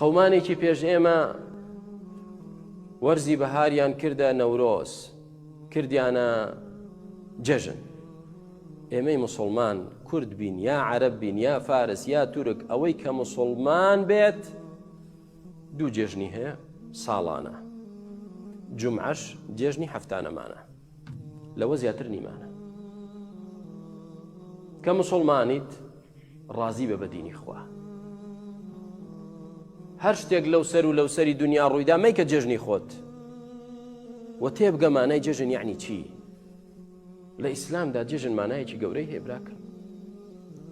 قەمانێکی پێش ئێمە وەرزی بەهاریان کردە نەورۆز کردیانە جەژن ئێمەی مسلمان کورد بین یا عرب بین یا فارس یا تورک ئەوەی کە مسلمان بێت دوو جێژنی هەیە ساڵانە جمعش جێژنی هەفتانەمانە لەوە زیاتر نیمانە کە مسلمانیت ڕازی بە بەدینی خوا هەر شتێک لەو سەر و لەو سەری دنیا ڕوویدا مەیکە جێژنی خۆت و تێبگە مانای جێژن یعنی چی لە ئیسلامدا جێژن مانایەکی گەورەی هێبراکە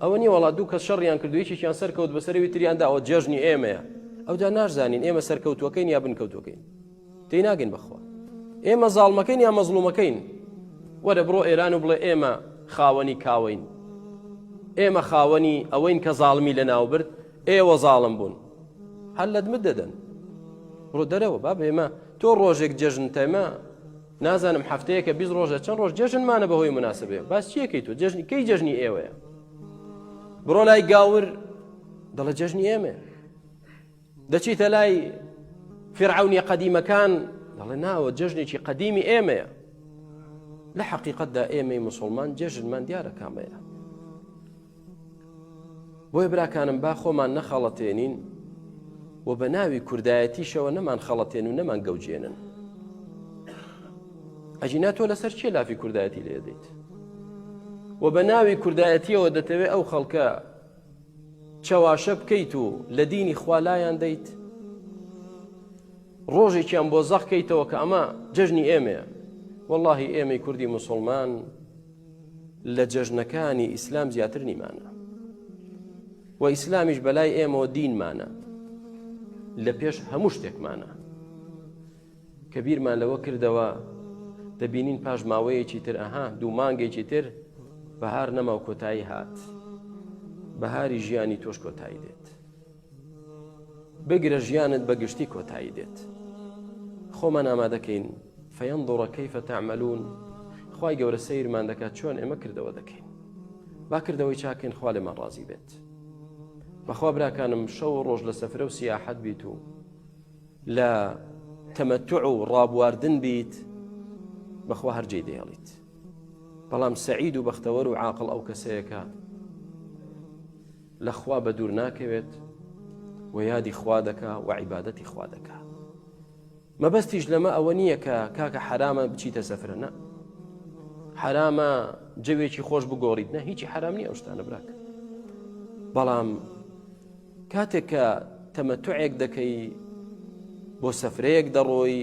ئەوە نیە وڵات دوو کە شەڕیان کردو یەکێکیان سەرکەوت بەسەرەوی تریانداەوە جێژنی ئێمەیە ئەودا ناشزانین ئێمە سەرکەوتوەکەین یا بنکەوتوەکەین تێی ناگەین بەخوا ئێمە زاڵمەکەین یا مەزڵومەکەین وەرە بڕۆ ئێران و بڵێ ئێمە خاوەنی کاوەین ئێمە خاوەنی ئەوەین کە زاڵمی لە ناوبرد ئێوە زاڵم بوون هەر لەدمت دەدەن بڕۆ دەرەوە با بێمە تۆ ڕۆژێک جەژن تەمە نازانم هەفتەیەکە بی ڕۆژە چەند ڕۆژ جەژنمانە بەهۆی مناسبێ باس چیەکەی تۆ جەژنی کەی جەژنی ئێوەیە بڕۆ لای گاور دەڵە جەژنی ئێمە دەچیتە لای فیرعونیە قەدیمەکان دەڵێ ناوە جەژنێکی قەدیمی ئێمەیە لە حقیقتدا ئێمەی مسلمان جەژنمان دیارە کامەیە بۆیە براکانم با خۆمان نەخەڵەتێنین و بە ناوی کوردایەتیشەوە نەمان خەڵەتێن و نەمان گەوجێنن ئەجینا تۆ لەسەر چیە لافی کوردایەتی لێدەیت و بە ناوی کوردایەتیەوە دەتەوێت ئەو خەڵکە چەواشە بکەیت و لە دینی خوا لایان دەیت ڕۆژێکیان بۆ زەق کەیتەوە کە ئەمە جەژنی ئێمەیە واللهی ئێمەی کوردی مسلمان لە جەژنەکانی ئیسلام زیاتر نیمانە و ئیسلامیش بەلای ئێمەوە دینمانە لە پێش هەموو شتێکمانە کە بیرمان لەوە کردەوە دەبینین پاش ماوەیەکی تر ئەها دوو مانگێکی تر بەهار نەماو کۆتایی هات بەهاری ژیانی تۆش کۆتایی دێت بگرە ژیانت بە گشتی کۆتایی دێت خۆمان ئامادەکەین فەیەن دۆڕە کەیفە تەعملون خی گەورە سیرمان دەکات چۆن ئێمە کردەوە دەکەین با کردەوەی چاکەین خوا لێمان ڕازی بێت بەخوا براکانم شەو ڕۆژ لە سەفرە و سیاحەت بیت و لە تەمەتوع و ڕابواردن بیت بەخوا هەر جێی دەیەڵیت بەڵام سعید و بەختەوەر و عاقل ئەو کەسەیەکە لەخوا بە دوور ناکەوێت و یادی خوا دەکا و عیباەتی خوا دەکا مەبەستیش لەمە ئەوە نییە کە کاکە حرامە بچیتە سەفرە نە حرامە جەوێکی خۆش بگۆڕیت نە هیچی حرام نیە ئەو شتانە براکە بەڵام کاتێک کە تەمەتوعێک دەکەی بۆ سەفرەیەک دەڕۆی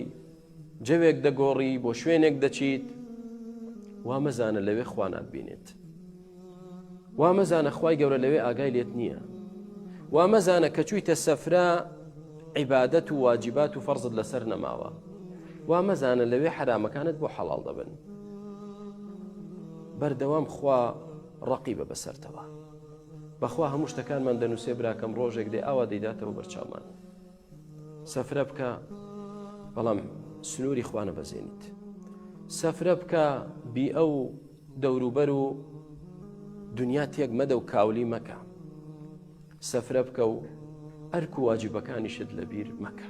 جەوێک دەگۆڕی بۆ شوێنێک دەچیت وا مەزانە لەوێ خوانات بینێت وا مەزانە خی گەورە لەوێ ئاگای لێت نییە وا مەزانە کە چوویتە سەفرا عیبادەت و واجبات و فەرزت لەسەر نەماوە وا مەزانە لەوێ حرامەکانت بۆ حەڵال دەبن بەردەوام خوا ڕقی بە بەسەرتەوە بەخوا هەموو شتەکانمان دەنووسێ براکەم ڕۆژێک دێ ئاوا دەیداتەوە بەرچاومان سەفرە بکە بەڵام سنووری خوانە بەزێنیت سەفرە بکە بی ئەو دەوروبەر و دنیا تێک مەدە و کاولی مەکە سەفرە بکە و ئەرک و واجبەکانیشت لەبیر مەکە